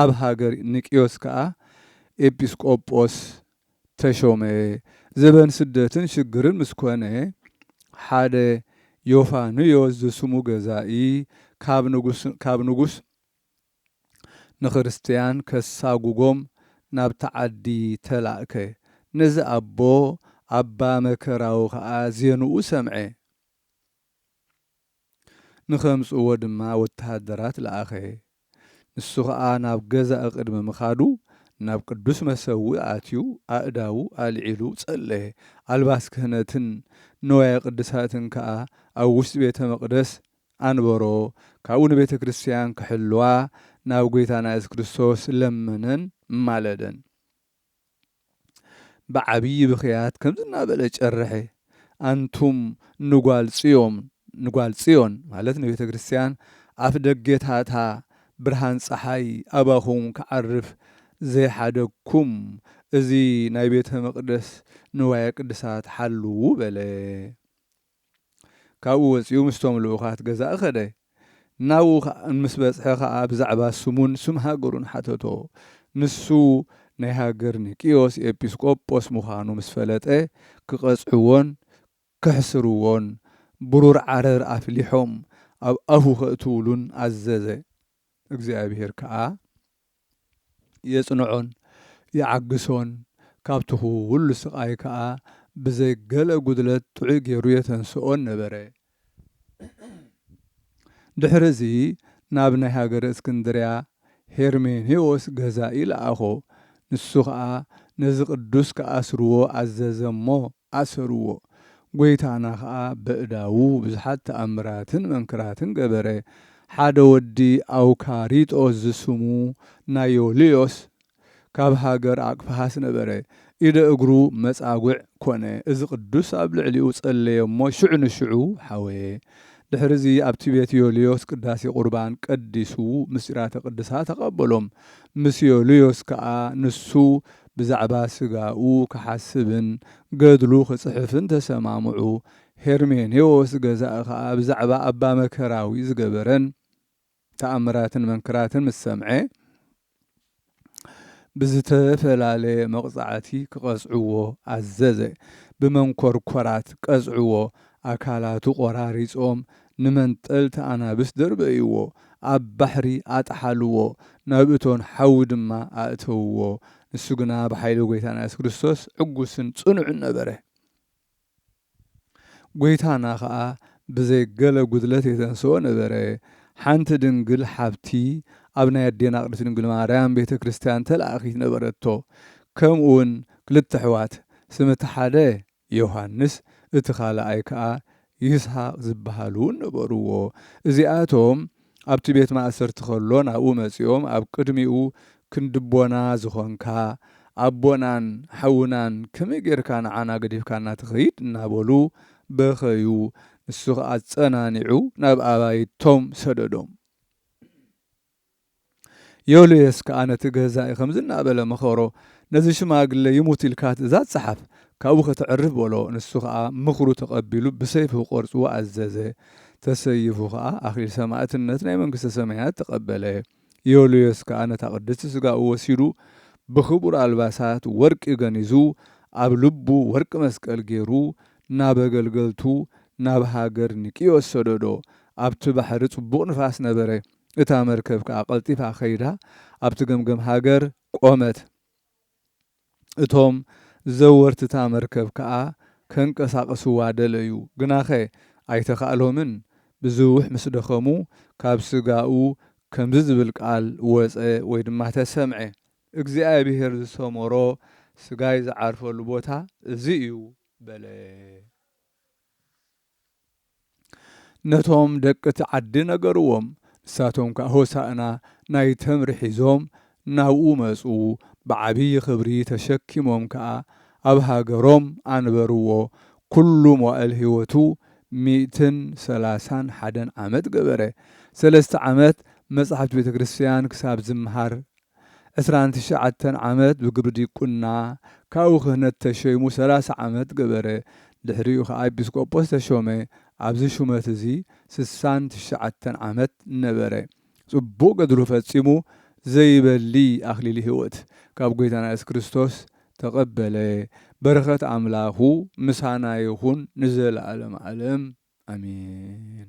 ኣብ ሃገር ኒቅዮስ ከኣ ኤጲስቆጶስ ተሾመ። ዘበን ስደትን ሽግርን ምስ ኮነ፣ ሓደ ዮፋንዮስ ዝስሙ ገዛኢ ካብ ንጉስ ንክርስትያን ከሳጉጎም ናብቲ ዓዲ ተላእከ። ነዚ ኣቦ ኣባ መከራዊ ከኣ ዜንኡ ሰምዐ። ንኸምጽእዎ ድማ ወተሃደራት ለኣኸ። ንሱ ኸኣ ናብ ገዛኢ ቕድሚ ምኻዱ፣ ናብ ቅዱስ መሰውኢ ኣትዩ ኣእዳዉ ኣልዒሉ ጸለየ፣ ኣልባስ ክህነትን ንዋየ ቅድሳትን ከኣ ኣብ ውሽጢ ቤተ መቕደስ ኣንበሮ፣ ካብኡ ንቤተ ክርስትያን ክሕልዋ ናብ ጐይታና የሱስ ክርስቶስ ለመነን ማለደን። ብዓብዪ ብኽያት ከምዚ እናበለ ጨርሐ፣ ኣንቱም ንጓል ጽዮን፣ ንጓል ጽዮን ማለት ንቤተ ክርስቲያን፣ ኣፍ ደጌታታ ብርሃን ጸሓይ ኣባኹም ክዓርፍ ዘይሓደግኩም፣ እዚ ናይ ቤተ መቕደስ ንዋየ ቅድሳት ሓልዉ በለ። ካብኡ ወጺኡ ምስቶም ልኡኻት ገዛኢ ከደ። ናብኡ ምስ በጽሐ ከኣ ብዛዕባ ስሙን ስም ሃገሩን ሓተቶ። ንሱ ናይ ሃገር ኒቅዮስ ኤጲስ ቆጶስ ምዃኑ ምስ ፈለጠ ክቐጽዕዎን ከሕስርዎን ብሩር ዓረር ኣፍሊሖም ኣብ ኣፉ ከእትውሉን ኣዘዘ። እግዚኣብሄር ከኣ። የጽንዖን ይዓግሶን፣ ካብቲ ዅሉ ስቓይ ከኣ ብዘይ ገለ ጕድለት ጥዑይ ገይሩ የተንስኦን ነበረ። ድሕርዚ ናብ ናይ ሃገረ እስክንድርያ ሄርሜኔዎስ ገዛኢ ለኣኾ፣ ንሱ ኸኣ ነዚ ቅዱስ ኪኣስርዎ ኣዘዘ እሞ፣ ኣሰሩዎ። ጐይታና ኸኣ በእዳዉ ብዙሓት ተኣምራትን መንክራትን ገበረ። ሓደ ወዲ ኣውካሪጦስ ዝስሙ ናይ ዮልዮስ ካብ ሃገር ኣቅፍሃስ ነበረ። ኢደ እግሩ መጻጉዕ ኰነ። እዚ ቅዱስ ኣብ ልዕሊኡ ጸለየ እሞ ሽዑ ንሽዑ ሓወየ። ድሕርዚ ኣብቲ ቤት ዮልዮስ ቅዳሴ ቍርባን ቀዲሱ ምስጢራተ ቅድሳ ተቀበሎም። ምስ ዮልዮስ ከኣ ንሱ ብዛዕባ ስጋኡ ክሓስብን ገድሉ ክጽሕፍን ተሰማምዑ። ሄርሜኔዎስ ገዛኢ ከኣ ብዛዕባ ኣባ መከራዊ ዝገበረን ተኣምራትን መንክራትን ምስ ሰምዐ፣ ብዝተፈላለየ መቕጻዕቲ ክቐጽዕዎ ኣዘዘ። ብመንኰርኰራት ቀጽዕዎ፣ ኣካላቱ ቈራሪጾም ንመንጠልቲ ኣናብስ ደርበይዎ፣ ኣብ ባሕሪ ኣጥሓልዎ፣ ናብ እቶን ሓዊ ድማ ኣእተውዎ። ንሱ ግና ብሓይሊ ጐይታና የሱስ ክርስቶስ ዕጉስን ጽኑዕን ነበረ። ጐይታና ኸኣ ብዘይ ገለ ጕድለት የተንስኦ ነበረ። ሓንቲ ድንግል ሓብቲ ኣብ ናይ ኣዴና ቅድስቲ ድንግል ማርያም ቤተ ክርስቲያን ተላእኪት ነበረቶ። ከምኡውን ክልተ ኣሕዋት፣ ስም እቲ ሓደ ዮሃንስ እቲ ኻልኣይ ከኣ ይስሃቅ ዝበሃል እውን ነበርዎ። እዚኣቶም ኣብቲ ቤት ማእሰርቲ ኸሎ ናብኡ መጺኦም ኣብ ቅድሚኡ ክንድቦና ዝኾንካ ኣቦናን ሓውናን ከመይ ጌርካ ንዓና ገዲፍካና ትኸይድ እናበሉ በኸዩ። ንሱ ኸኣ ኣጸናኒዑ ናብ ኣባይቶም ሰደዶም። ዮልዮስ ከኣ ነቲ ገዛኢ ከምዚ እናበለ መኸሮ፣ ነዚ ሽማግለ ይሙት ኢልካ ትእዛዝ ጸሓፍ፣ ካብኡ ከተዕርፍ በሎ። ንሱ ኸኣ ምኽሩ ተቐቢሉ ብሰይፊ ክቖርጽዎ ኣዘዘ። ተሰይፉ ኸኣ ኣኽሊል ሰማእትነት ናይ መንግስተ ሰማያት ተቐበለ። ዮልዮስ ከኣ ነታ ቅድስቲ ስጋኡ ወሲዱ ብኽቡር ኣልባሳት ወርቂ ገኒዙ ኣብ ልቡ ወርቂ መስቀል ገይሩ ናብ ኣገልገልቱ ናብ ሃገር ኒቅዮስ ሰደዶ። ኣብቲ ባሕሪ ጽቡቕ ንፋስ ነበረ። እታ መርከብ ከኣ ቀልጢፋ ከይዳ ኣብቲ ገምገም ሃገር ቆመት። እቶም ዘወርቲ'ታ መርከብ ከኣ ከንቀሳቕስዋ ደለዩ፣ ግናኸ ኣይተኻእሎምን፣ ብዝውሕ ምስ ደኸሙ ካብ ስጋኡ ከምዚ ዝብል ቃል ወጸ ወይ ድማ ተሰምዐ። እግዚኣብሄር ዝሰመሮ ስጋይ ዝዓርፈሉ ቦታ እዚ እዩ በለ። ነቶም ደቂ'ቲ ዓዲ ነገርዎም። ንሳቶም ከኣ ሆሣእና ናይ ተምሪ ሒዞም ናብኡ መጹ፣ ብዓቢይ ኽብሪ ተሸኪሞም ከኣ ኣብ ሃገሮም ኣንበርዎ፣ ኵሉ መዋእል ሕይወቱ ሚእትን ሠላሳን ሓደን ዓመት ገበረ፣ ሠለስተ ዓመት መጻሕፍቲ ቤተክርስትያን ክሳብ ዝመሃር ዕስራን ትሽዓተን ዓመት ብግብሪ ዲቁና፣ ካብኡ ክህነት ተሸይሙ ሰላሳ ዓመት ገበረ፣ ድሕሪኡ ኸኣ ኤጲስቆጶስ ተሾመ፣ ኣብዚ ሹመት እዚ ስሳን ትሽዓተን ዓመት ነበረ፣ ጽቡቕ ገድሉ ፈጺሙ ዘይበሊ ኣኽሊል ሕይወት ካብ ጐይታና ኢየሱስ ክርስቶስ ተቐበለ፣ በረኸት ኣምላኹ ምሳና ይኹን ንዘለዓለመ ዓለም ኣሜን።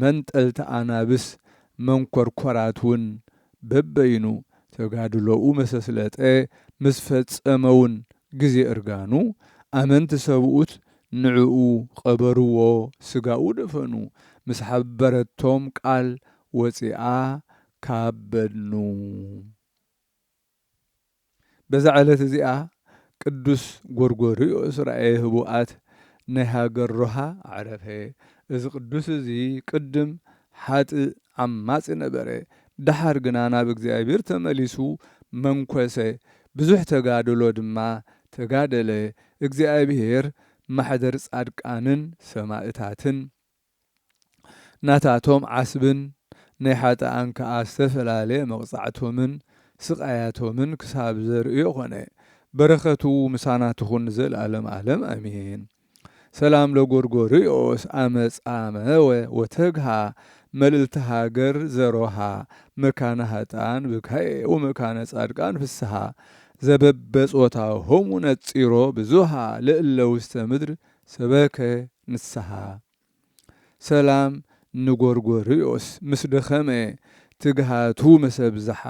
መንጠልቲ ኣናብስ መንኮርኮራት ውን በበይኑ ተጋድሎኡ መሰስለጠ ምስ ፈጸመ ውን ግዜ እርጋኑ ኣመንቲ ሰብኡት ንዕኡ ቐበርዎ ስጋኡ ደፈኑ ምስ ሓበረቶም ቃል ወጺኣ ካብ በድኑ። በዛ ዕለት እዚኣ ቅዱስ ጎርጎርዮስ ራእየ ህቡኣት ናይ ሃገር ሮሃ ኣዕረፈ። እዚ ቅዱስ እዚ ቅድም ሓጥእ ዓማጺ ነበረ፣ ደሓር ግና ናብ እግዚኣብሔር ተመሊሱ መንኰሰ፣ ብዙሕ ተጋድሎ ድማ ተጋደለ፣ እግዚኣብሔር ማሕደር ጻድቃንን ሰማእታትን፣ ናታቶም ዓስብን ናይ ሓጥኣን ከኣ ዝተፈላለየ መቕጻዕቶምን ስቓያቶምን ክሳብ ዘርእዮ ኮነ። በረኸቱ ምሳና ትኹን ንዘልኣለም ኣለም ኣሜን። ሰላም ለጎርጎርዮስ ኣመ ጻመወ ወተግሃ መልእልተ ሃገር ዘሮሃ መካነ ሃጥኣን ብካየ ወመካነ ጻድቃን ፍስሃ ዘበበጾታሆሙ ነጺሮ ብዙሃ ለእለ ውስተ ምድር ሰበከ ንስሓ ሰላም ንጎርጎርዮስ ምስ ደኸመ ትግሃቱ ምስ ኣብዝሓ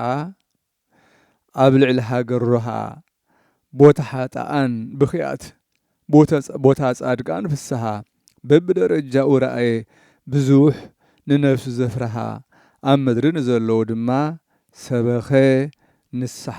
ኣብ ልዕሊ ሃገር ሮሃ ቦታ ሓጥኣን ብኽያት ቦታ ጻድቃን ፍስሓ በብደረጃኡ ረኣየ ብዙሕ ንነፍሱ ዘፍርሓ ኣብ ምድሪ ንዘለዉ ድማ ሰበኸ ንስሓ።